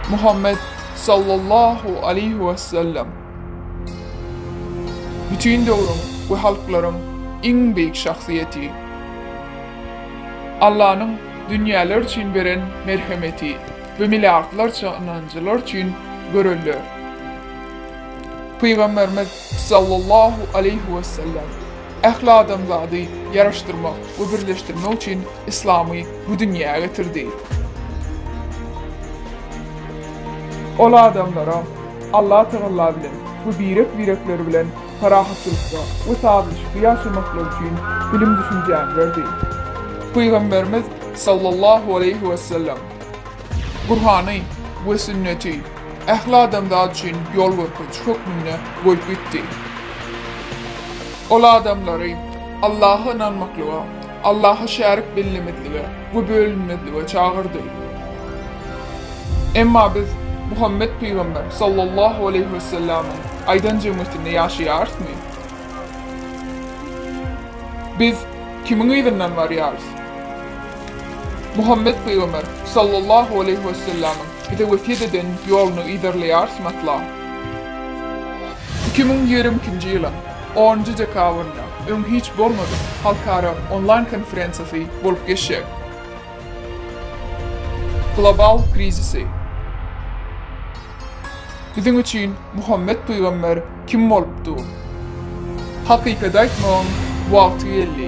Muhammet sallallahu aleýhi wesellem bütin döwrüň we halklaryň iň beýik şahsyýeti. Allanyň dünýäler üçin beren merhemeti we milliardlarça ynanjylar üçin göreldä. Pygamberimiz Sallallahu aleýhi wesellem, Ähli adamzady ýaraşdyrmak we birleşdirmek üçin Yslamy bu dünýä getirdi. Ol adamlara Allah Tagalla bilen we birek-birekleri bilen parahatlykda we sazlaşykly ýaşamaklary üçin bilim-düşünjäni berdi. Pygamberimiz, Sallallahu aleýhi wesellem, Gurhany we sünneti ähli adamzat üçin ýolgörkeziji hökmünde goýup gitdi. Ol adamlary Allaha ynanmaklyga, Allaha şärik bellemezlige we bölünmezlige çagyrdy. Emma biz Muhammet pygamber sallallahu aleýhi wessellämiň aýdan jemgyýetinde ýaşaýarysmy? Biz kimiň yzyndan barýarys? Muhammet pygamber, sallallahu aleýhi wessellämiň, bize wesýet eden ýoluny yzarlaýarsym asla. Iki müň ýigrimi ikinji ýylyň onunjy dekabrynda öň hiç bolmadyk halkara onlaýn konferensiýasy bolup geçjek. Global krizisi. Biziň üçin Muhammet pygamber kim bolupdy? Hakykaty aýtmagyň wagty geldi.